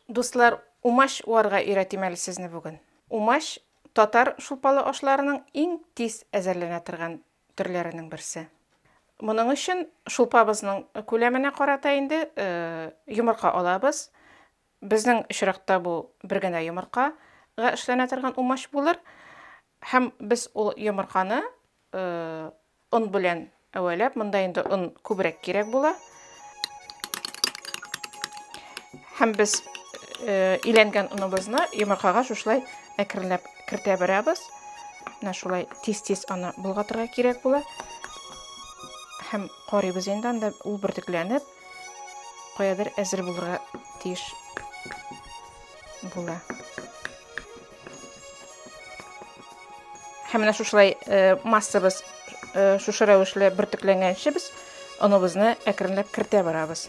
Дуслар, умач уарга өйрәтим әле сезне бүген. Умач, татар шулпалы ашларының иң тиз әзерләнә торган төрләренең берсе. Моның өчен шулпабызның күләменә карата инде йомырка алабыз. Безнең очракта бу бер генә йомыркага эшләнә торган умач булыр. Һәм без ул йомырканы Он белән әвәләп, монда инде он күбрәк кирәк була. Һәм без э, иләнгән оныбызны йомыркага шушылай әкренләп кертә барабыз. Менә шулай тиз-тиз аны болгатырга кирәк була. Һәм карыйбыз инде анда ул бөртекләнеп, каядыр әзер булырга тиеш була. һәм менә шушылай э, массабыз э, шушы рәвешле бөртекләнгәнче без оныбызны әкренләп кертә барабыз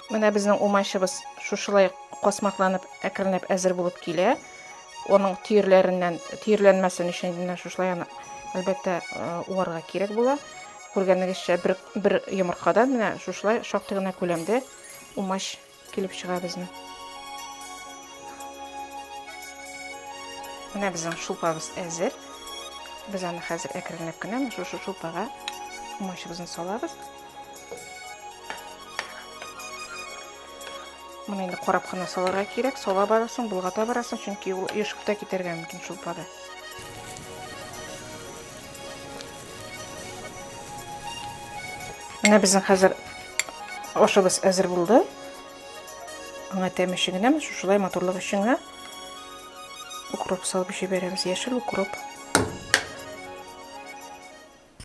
менә безнең умачыбыз шушылай космакланып әкренләп әзер булып килә оның түйірлерінен түйірләнмәсен өчен менә шушылай аны әлбәттә уарга кирәк була күргәнегезчә бер бер йомыркадан менә шушылай шактый гына күләмдә умач Килеп чыга безнең. Менә безнең шулпабыз әзер. Без аны хәзер әкренләп кенә шушы шулпага мочыбызны салабыз. Моны инде карап кына салырга кирәк. Сала барасың, болгата барасың, чөнки ул ешып та китәргә мөмкин шулпада. Менә безнең хәзер ашыбыз әзер булды. Аңа тәме өчен генә, шушылай матурлык өчен генә укроп салып җибәрәбез, яшел укроп.